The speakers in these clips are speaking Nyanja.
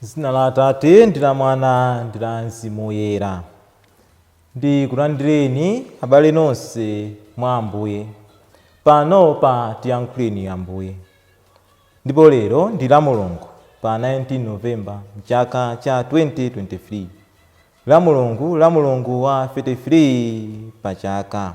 zina la atate ndi la mwana ndi la mzimu woyera ndikulandireni abale nonse mwa ambuye pano pa tiyankhuleni ambuye ndipo lero ndi la mulungu pa 19 novemba mchaka cha 2023 la mulungu la mulungu wa 33 pa chaka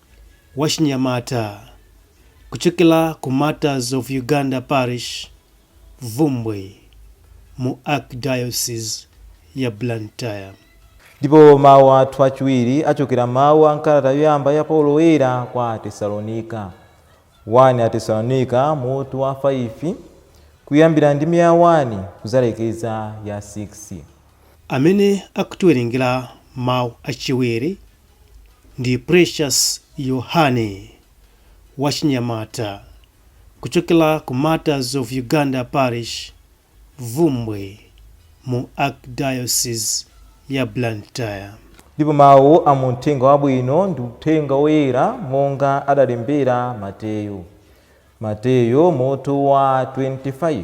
Wachinyamata kuchokera ku Martyrs of Uganda Parish, Bvumbwe, mu Archdiocese ya Blantyre. Ndipo mawu athu achiwiri achokera mawu a m'kalata yoyamba ya Paulo Woyera kwa Atesalonika. 1 Atesalonika mutu wa 5, kuyambira ndime ya 1 kudzalekeza ya 6. Amene akutiwerengera mawu achiwiri Ndi Precious Yohane, wachinyamata, kuchokera ku Martyrs of Uganda Parish, Bvumbwe, mu Archdiocese ya Blantyre. Ndipo mau a mu Mthenga Wabwino ndi Uthenga Woyera monga adalembera Mateyo. Mateyo, mutu wa 25.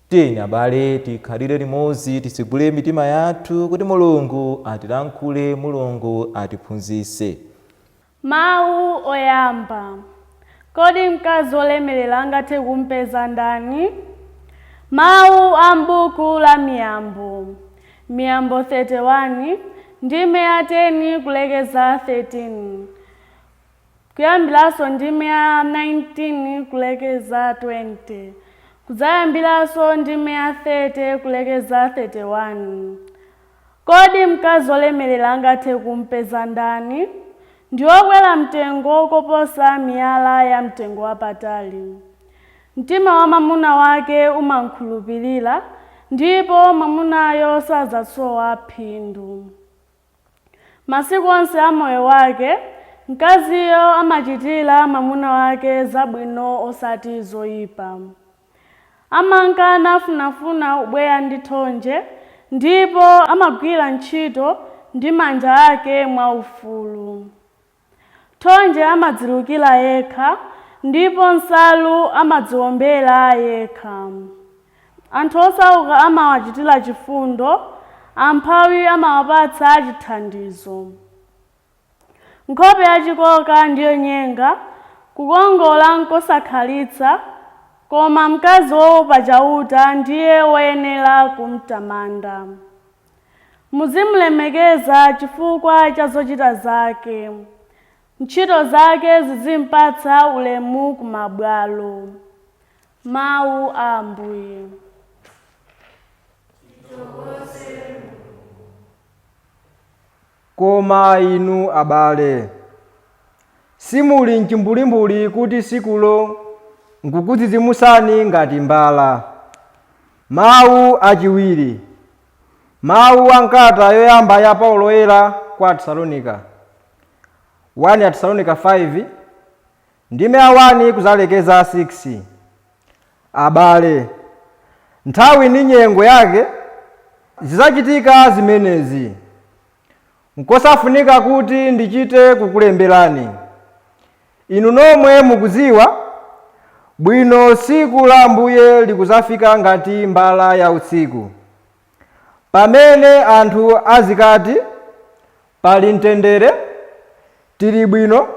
Tiyeni abale tikhalire limodzi titsegule mitima yathu kuti Mulungu atilankhule Mulungu atiphunzitse. Mawu Oyamba, Kodi Mkazi Wolemerera Angathe Kum'peza Ndani? Mawu a m'buku la Miyambo, Miyambo 31, ndime ya 10 kulekeza 13. kuyambiranso ndime ya 19 kulekeza 20, kudzayambiranso ndime ya 30 kulekeza 31. Kodi mkazi wolemerera angathe kum'peza ndani? Ndi wokwera mtengo koposa miyala yamtengo wapatali. Mtima wa mwamuna wake umam'khulupirira, ndipo mwamunayo sadzasowa phindu. Masiku onse a moyo wake, mkaziyo amachitira mwamuna wake zabwino osati zoipa. Amanka nafunafuna ubweya ndi thonje, ndipo amagwira ntchito ndi manja ake mwaufulu. Thonje amadzilukira yekha ndipo nsalu amadziwombera yekha. Anthu osauka amawachitira chifundo, amphawi amawapatsa chithandizo. Nkhope yachikoka ndi yonyenga, kukongola n'kosakhalitsa, koma mkazi woopa Chauta ndiye woyenera kumtamanda. Muzim'lemekeza chifukwa cha zochita zake. Ntchito zake zizim'patsa ulemu ku mabwalo. Mawu a Ambuye. Tithokoze Mulungu. Koma inu abale, simuli m'chimbulimbuli kuti tsikulo n'kukudzidzimutsani ngati mbala. Mawu achiwiri Mawu a m'kalata yoyamba ya Paulo Woyera kwa Atesalonika 1 Atesalonika 5, Ndime ya 1 kudzalekeza 6, abale, nthawi ndi nyengo yake zidzachitika zimenezi. Nkosafunika kuti ndichite kukulemberani. Inu nomwe mukudziwa bwino tsiku la Ambuye likudzafika ngati mbala ya usiku. Pamene anthu azikati, Pali mtendere, tili bwino,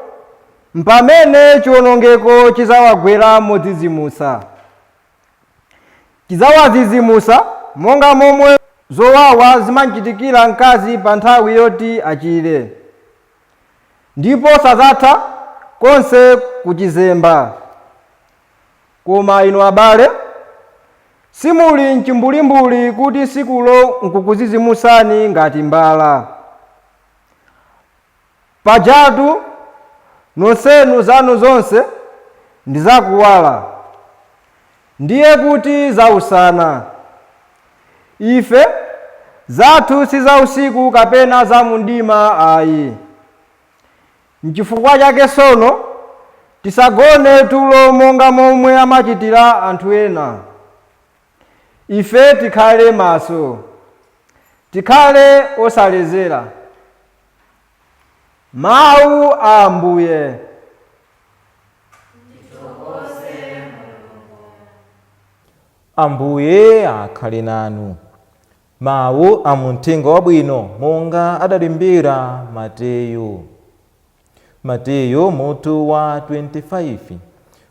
mpamene chiwonongeko chidzawagwera modzidzimutsa. Chidzawadzidzimutsa monga momwe zowawa zimamchitikira mkazi pa nthawi yoti achire, ndipo sadzatha konse kuchizemba. Koma inu abale, simuli m'chimbulimbuli kuti tsikulo n'kukudzidzimutsani ngati mbala. Pajatu nonsenu zanu zonse ndi za kuwala, ndiye kuti za usana. Ife zathu si za usiku kapena za mumdima ayi. Nchifukwa chake tsono, tisagone tulo monga momwe amachitira anthu ena. Ife tikhale maso, tikhale osaledzera. Mawu a Ambuye. Ambuye akhale nanu. Mawu a mu Mthenga Wabwino monga adalembera Mateyu. Mateyu mutu wa 25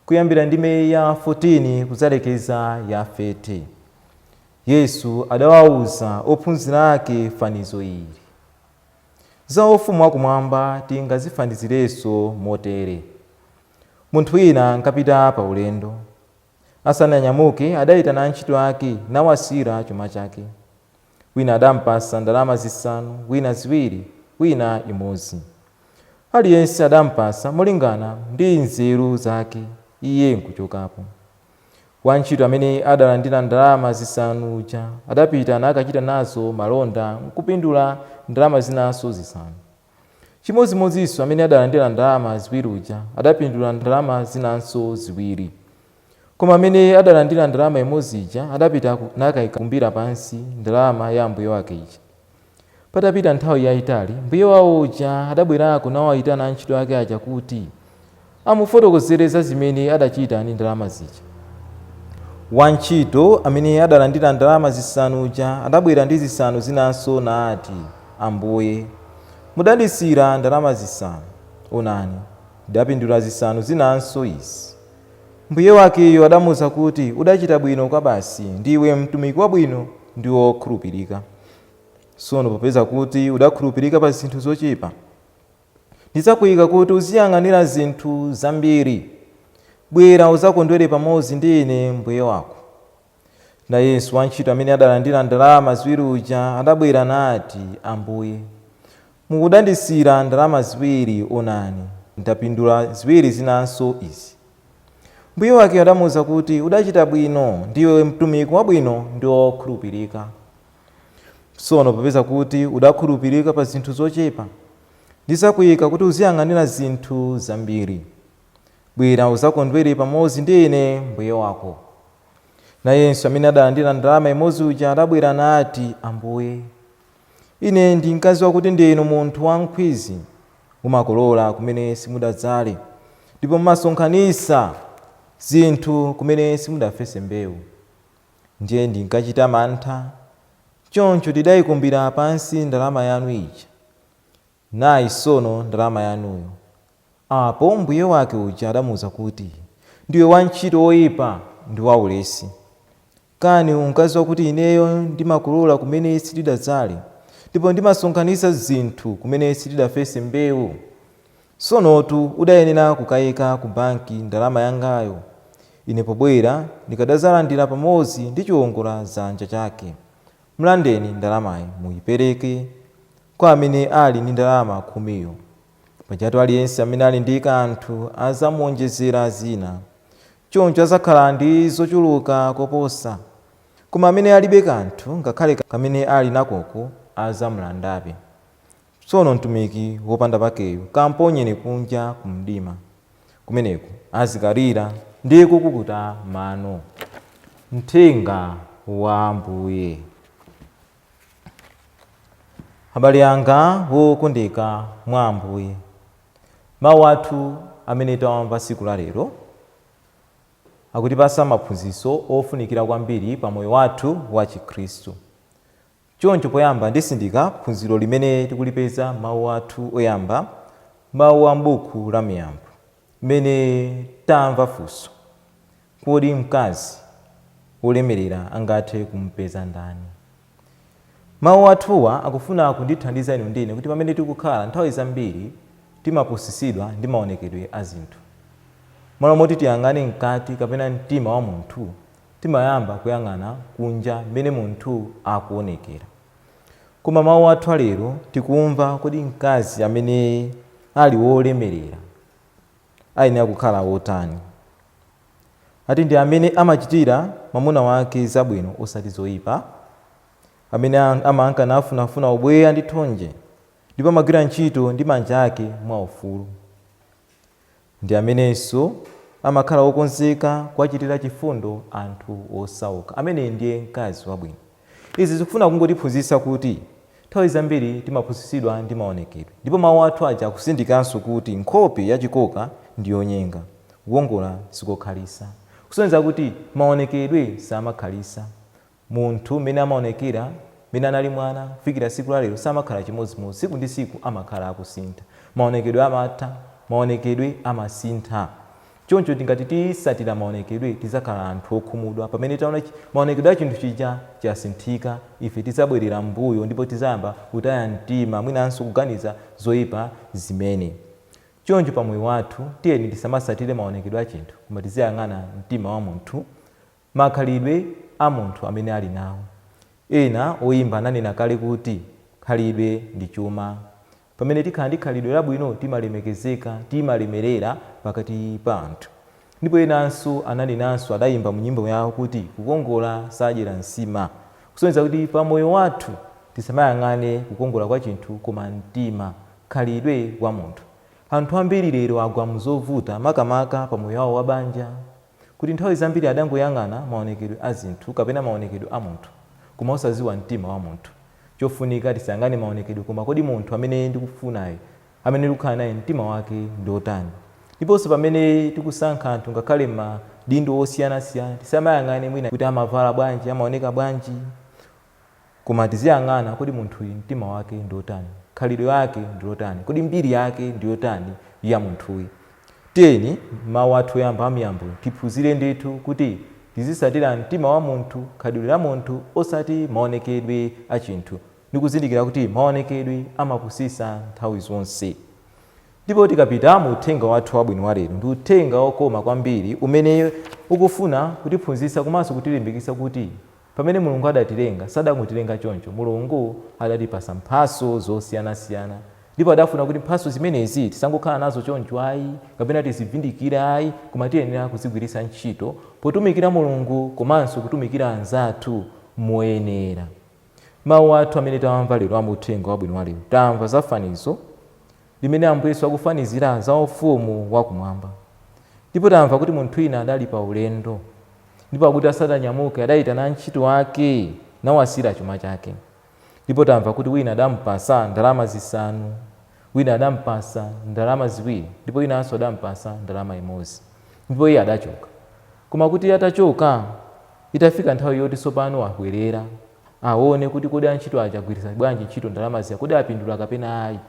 kuyambira ndime ya 14 kudzalekeza ya 30. Yesu adawauza ophunzira ake fanizo ili. Za ufumu wakumwamba tingazifanizirenso motere. Munthu wina ankapita pa ulendo. Asananyamuke, adaitana antchito ake nawasiyira chuma chake. Wina adampatsa ndalama zisanu, wina ziwiri, wina imodzi. Aliyense adampatsa molingana ndi nzeru zake, iye nkuchokapo. Wantchito amene adalandira ndalama zisanu uja, adapita nakachita nazo malonda nkupindula ndalama zinanso zisanu. Chimodzimodzinso amene adalandira ndalama ziwiri uja adapindula ndalama zinanso ziwiri. Koma amene adalandira ndalama imodzi ija adapita nakaikakumbira pansi ndalama ya mbuye wake ija. Patapita nthawi yaitali, mbuye wawo uja adabwerako nawaitana antchito ake aja kuti, amufotokozere za zimene adachita ndi ndalama zija. Wantchito amene adalandira ndalama zisanu uja adabwera ndi zisanu zinanso nati, Ambuye, mudandisiyira ndalama zisanu. Onani, ndidapindula zisanu zinanso izi. Mbuye wakeyo adamuuza kuti, Udachita bwino kwabasi, ndiwe mtumiki wabwino ndi wokhulupirika. Tsono popeza kuti udakhulupirika pa zinthu zochepa, Ndidzakuika kuti uziyang'anira zinthu zambiri. Bwera udzakondwere pamodzi ndi ine mbuye wako. Nayenso wantchito amene adalandira ndalama ziwiri uja adabwera nati, Ambuye, mukudandisiyira ndalama ziwiri, onani, ndapindula ziwiri zinanso izi. Mbuye wake adamuuza kuti, Udachita bwino, ndiwe mtumiki wabwino ndi wokhulupirika. Tsono popeza kuti udakhulupirika pa zinthu zochepa, ndidzakuika kuti uziyang'anira zinthu zambiri. Bwera udzakondwere pamodzi ndi ine mbuye wako. Nayenso amene adalandira ndalama imodzi uja adabwera nati, Ambuye, ine ndinkadziwa kuti ndinu munthu wamkhwizi, mumakolola kumene simudadzale, ndipo mumasonkhanitsa zinthu kumene simudafese mbeu. ndiye ndinkachita mantha, choncho ndidaikumbira pansi ndalama yanu ija. Nayi tsono ndalama yanuyo. Apo mbuye wake uja adamuuza kuti, Ndiwe wantchito woipa ndi waulesi! Kani unkadziwa kuti ineyo ndimakolola kumene sitidadzale, ndipo ndimasonkhanitsa zinthu kumene sitidafese mbeu? Tsonotu udayenera kukaika ku banki ndalama yangayo, ine pobwera ndikadadzalandira pamodzi ndi chiwongoladzanja chake. Mlandeni ndalamayi muipereke kwa amene ali ndi ndalama khumiyo. Pajatu aliyense amene ali ndi kanthu adzamuwonjezera zina, choncho adzakhala ndi zochuluka koposa. Koma amene alibe kanthu, ngakhale kamene ali nakoko adzamulandabe. Tsono mtumiki wopanda pakeyu kamponyeni kunja ku mdima. Kumeneko azikalira ndi kukukuta mano. Uthenga wa Ambuye. Abale anga wokondeka mwa Ambuye, mawu athu amene tawamva tsiku la lero akutipatsa maphunziro ofunikira kwambiri pa moyo wathu wa Chikhristu. Choncho poyamba nditsindika phunziro limene tikulipeza m'mawu athu oyamba, mawu a m'buku la Miyambo, mmene tamva funso, Kodi mkazi wolemerera angathe kumupeza ndani? Mawu athuwa akufuna kutithandiza inu ndi ine kuti pamene tikukhala, nthawi zambiri timapusitsidwa ndi maonekedwe a zinthu. M'malo moti tiyang'ane mkati kapena mtima wa munthu, timayamba kuyang'ana kunja mmene munthu akuonekera. Koma mawu athu a lero tikumva kodi mkazi amene ali wolemerera ayenera kukhala wotani? Ati ndi amene amachitira mwamuna wake zabwino osati zoipa, amene amanka nafunafuna ubweya ndi thonje, ndipo amagwira ntchito ndi manja ake mwaufulu. Ndi amenenso amakhala wokonzeka kuwachitira chifundo anthu osauka. Ameneyu ndiye mkazi wabwino. Izi zikufuna kungotiphunzitsa kuti nthawi zambiri timapusitsidwa ndi maonekedwe. Ndipo mawu athu aja akutsindikanso kuti nkhope ya chikoka ndi yonyenga. Kukongola sikokhalitsa. Kusonyeza kuti maonekedwe samakhalitsa. Munthu mmene amaonekera, mmene anali mwana kufikira tsiku la lero samakhala chimodzimodzi. Tsiku ndi tsiku amakhala akusintha. Maonekedwe amatha, maonekedwe amasintha. Choncho tingati titatsatira maonekedwe tidzakhala anthu okhumudwa. Pamene taona maonekedwe a chinthu chija chasinthika, ife tidzabwerera m'mbuyo ndipo tidzayamba kutaya mtima mwinanso kuganiza zoipa zimene. Choncho pa moyo wathu tiyeni tisamatsatire maonekedwe a chinthu koma tiziyang'ana mtima wa munthu. Makhalidwe a munthu amene ali nawo. Ena oyimba ananena kale kuti, Khalidwe ndi chuma. Pamene tikhala ndi khalidwe labwino timalemekezeka, timalemerera pakati pa anthu. Ndipo enanso ananenanso adayimba mu nyimbo yawo kuti kukongola sadyera nsima. Kusonyeza kuti pa moyo wathu tisamayang'ane kukongola kwa chinthu koma mtima, khalidwe wa munthu. Anthu ambiri lero agwa mu zovuta makamaka pa moyo wawo wa banja. kuti nthawi zambiri adangoyang'ana maonekedwe a zinthu kapena maonekedwe a munthu koma osadziwa mtima wa munthu. Chofunika tisayang'ane maonekedwe koma kodi munthu amene ndikufunayu, amene ndikukhala naye mtima wake ndi wotani? Ndiponso pamene tikusankha anthu ngakhale m'madindo osiyanasiyana tisamayang'ane mwina kuti amavala bwanji, amaoneka bwanji Koma tiziyang'ana, kodi munthuyi mtima wake ndi otani? Khalidwe lake ndi lotani? Kodi mbiri yake ndi yotani ya munthuyi? Tiyeni m'mawu athu oyamba a Miyambo tiphunzire ndithu kuti tizitsatira mtima wa munthu, khalidwe la munthu osati maonekedwe a chinthu ndi kuzindikira kuti maonekedwe amapusitsa nthawi zonse. Ndipo tikapita mu uthenga wathu wabwino wa lero, ndi uthenga okoma kwambiri umene ukufuna kutiphunzitsa komanso kutilimbikitsa kuti. Pamene Mulungu adatilenga, sadangotilenga choncho. Mulungu adatipatsa mphatso zosiyanasiyana. Ndipo adafuna kuti mphatso zimenezi tisangokhala nazo choncho ayi, kapena tizivindikire ayi, koma tiyenera kuzigwiritsa ntchito potumikira Mulungu komanso kutumikira anzathu moyenera. Mawu athu amene tawamva lero a mu Uthenga Wabwino wa lero, tamva za fanizo. limene Ambuye Yesu akufanizira za ufumu wa kumwamba. Ndipo tamva kuti munthu wina adali pa ulendo, ndipo akuti asadanyamuke adayitana antchito ake nawasiyira chuma chake. Ndipo tamva kuti wina adampasa ndalama zisanu, wina adampasa ndalama ziwiri, ndipo winanso adampasa ndalama imodzi. Ndipo iye adachoka. Koma kuti iye atachoka, itafika nthawi yoti tsopano abwerera, awone kuti kodi antchito aja agwiritsa bwanji ntchito ndalama zija, kodi apindula kapena ayi.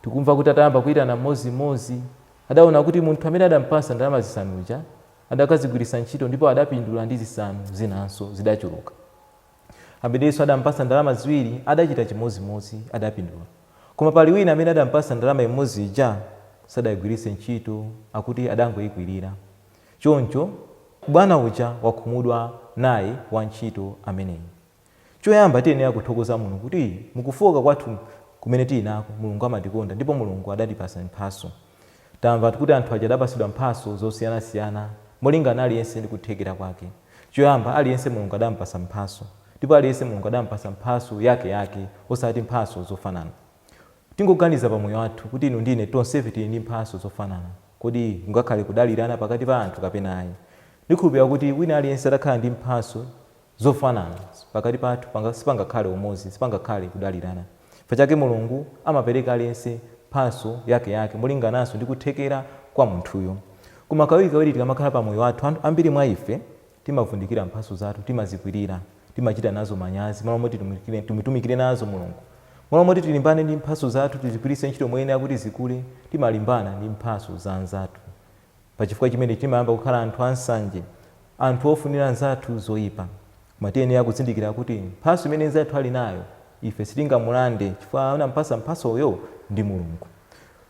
Tikumva kuti atayamba kuitana mmodzimmodzi, adaona kuti munthu amene adampatsa ndalama zisanu uja adakazigwiritsa ntchito ndipo adapindula ndi zisanu zinanso, zidachuluka. Amenenso adampatsa ndalama ziwiri adachita chimodzimodzi, adapindula. Koma pali wina amene adampatsa ndalama imodzi ija, sadaigwiritse ntchito, akuti adangoikwirira. Choncho bwana uja wakhumudwa naye wantchito ameneyi. Choyamba tiyenera kuthokoza Mulungu kuti mu kufooka kwathu kumene tili nako, Mulungu amatikonda ndipo Mulungu adatipatsa mphatso. Tamva kuti anthu aja adapatsidwa mphatso zosiyanasiyana molingana aliyense ndi kuthekera kwake. Choyamba aliyense Mulungu adampatsa mphatso ndipo aliyense Mulungu adampatsa mphatso yakeyake osati mphatso zofanana. Tingoganiza pa moyo wathu kuti inu ndi ine tonsefe tili ndi mphatso zofanana. Kodi kungakhale kudalirana pakati pa anthu kapena ayi? Ndikhulupirira kuti wina aliyense atakhala ndi mphatso zofanana, pakati pathu sipangakhale umodzi, sipangakhale kudalirana. Chifukwa chake Mulungu amapereka aliyense mphatso yake yake molingananso ndi kuthekera kwa munthuyo. Koma kawirikawiri tikamakhala pa moyo wathu, ambiri mwa ife Timavundikira mphatso zathu, timazikwirira, timachita nazo manyazi, malo moti timutumikire nazo Mulungu. Malo moti tilimbane ndi mphatso zathu, tizigwiritse ntchito moyenera kuti zikule, timalimbana ndi mphatso za anzathu. Pachifukwa chimenechi timayamba kukhala anthu a nsanje, anthu ofunira anzathu zoipa. Koma tiyenera kuzindikira kuti mphatso imene nzathu ali nayo, ife sitingamulande chifukwa anampatsa mphatsoyo ndi Mulungu.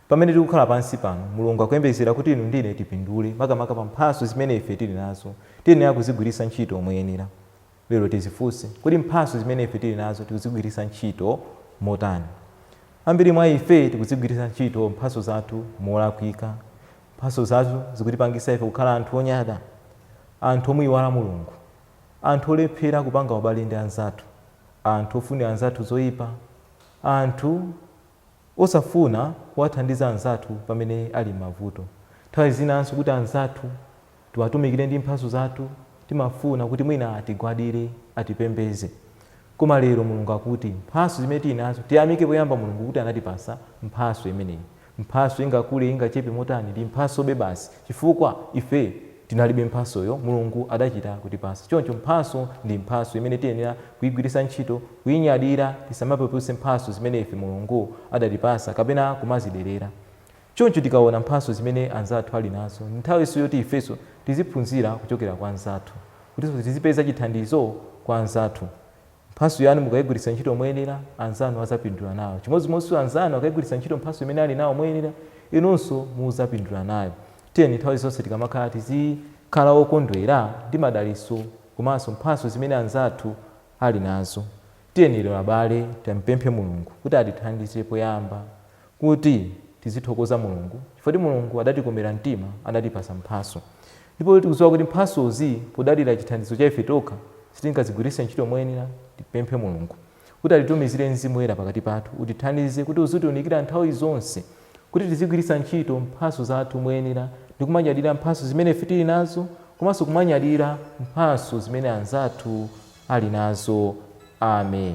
Pamene tikukhala pansi pano, Mulungu akuyembekezera kuti inu ndi ine tipindule, makamaka pa mphatso zimene ife tiri nazo. Tiyenera kuzigwiritsa ntchito moyenera. Lero tizifunse, Kodi mphatso zimene ife tiri nazo tikuzigwiritsa ntchito motani? Ambiri mwa ife tikuzigwiritsa ntchito mphatso zathu molakwika. Mphatso zathu zikutipangitsa ife kukhala anthu onyada, anthu omuyiwala Mulungu, anthu olephera kupanga ubale ndi anzathu, anthu ofunira anzathu zoipa, anthu. osafuna kuwathandiza anzathu pamene ali m'mavuto. Nthawi zinanso kuti anzathu tiwatumikire ndi mphatso zathu, timafuna kuti mwina atigwadire, atipembedze. Koma lero Mulungu akuti mphatso zimene tili nazo, tiyamike poyamba Mulungu kuti anatipatsa mphatso imeneyi. Mphatso ingakule ingachepe motani, ndi mphatsobe basi chifukwa ife Tinalibe mphatsoyo, Mulungu adachita kutipatsa. Choncho mphatso ndi mphatso imene tiyenera kuigwiritsa ntchito, kuinyadira. Tisamapeputse mphatso zimene ife Mulungu adatipatsa kapena kumaziderera. Choncho tikaona mphatso zimene anzathu ali nazo, nthawinso yoti ifenso tiziphunzira kuchokera kwa anzathu, kutinso tizipeza chithandizo kwa anzathu. Mphatso yanu mukaigwiritsa ntchito moyenera, anzanu adzapindula nayo. Chimodzimodzi anzanu akaigwiritsa ntchito mphatso imene ali nawo moyenera, inunso mudzapindula nayo. Tiyeni nthawi zonse tikamakhala tizikhala okondwera ndi madalitso komanso mphatso zimene anzathu ali nazo. Tiyeni lero abale timpemphe Mulungu kuti atithandize poyamba kuti tizithokoza Mulungu chifukwa choti Mulungu adatikomera mtima anatipatsa mphatso ndipo tikudziwa kuti mphatsozi podalira chithandizo cha ife tokha sitingazigwiritse ntchito moyenera tipemphe Mulungu kuti atitumizire Mzimu Woyera pakati pathu utithandize kuti uzitiunikira nthawi zonse kuti tizigwiritsa ntchito mphatso zathu moyenera ndi kumanyadira mphatso zimene ife tili nazo komanso kumanyadira mphatso zimene anzathu ali nazo Amen.